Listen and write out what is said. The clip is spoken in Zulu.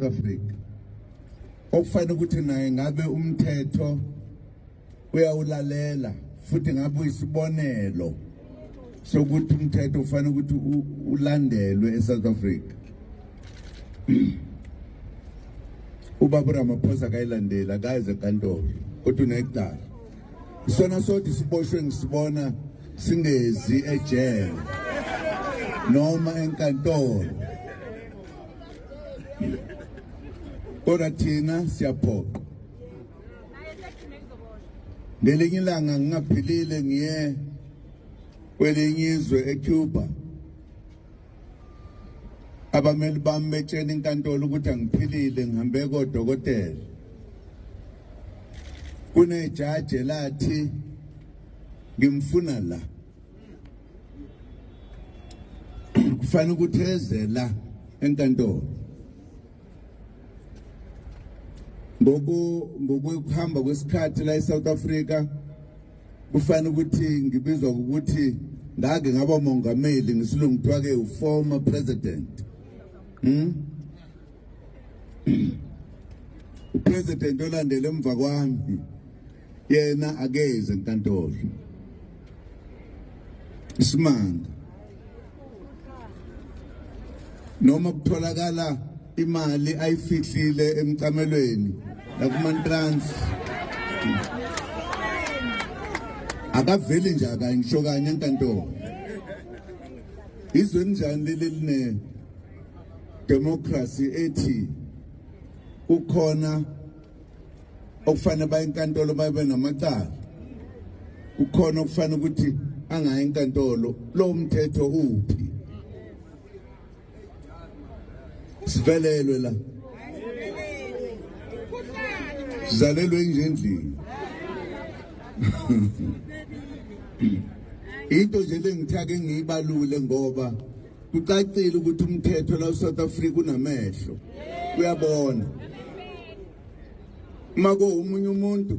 Africa okufanele ukuthi naye ngabe umthetho uyawulalela futhi ngabe uyisibonelo sokuthi umthetho ufanele ukuthi ulandelwe eSouth Africa ubaba Ramaphosa kayilandela kaze kantolo kodwa unecala isona sodwa isiboshwe ngisibona singezi ejele noma enkantolo kodwa thina siyaphoqa ngelinye ilanga ngingaphilile ngiye kwelinye izwe ecuba abameli bami betshena inkantolo ukuthi angiphilile ngihambe kodokotela kunejaji elathi ngimfuna la kufanele ukuthi eze la enkantolo ngoku ngokuhamba kwesikhathi la eSouth Africa Kufanele ukuthi ngibizwa ukuthi ngake ngaba mongameli ngisilungu kuthiwa ke uformer president. Hmm? President olandele emva kwami yena akeze enkantolo. Isimanga noma kutholakala imali ayifihlile emcamelweni nakumantrans akaveli nje akanye ngisho kanye enkantolo izwe njani leli line democracy ethi kukhona okufanele baye enkantolo babe namacala kukhona okufanele ukuthi angayi enkantolo lo mthetho uphi sivelelwe la sizalelwe enjendlini into nje lengithake ngiyibalule ngoba kucacile ukuthi umthetho la South Africa unamehlo uyabona uma ko umunye umuntu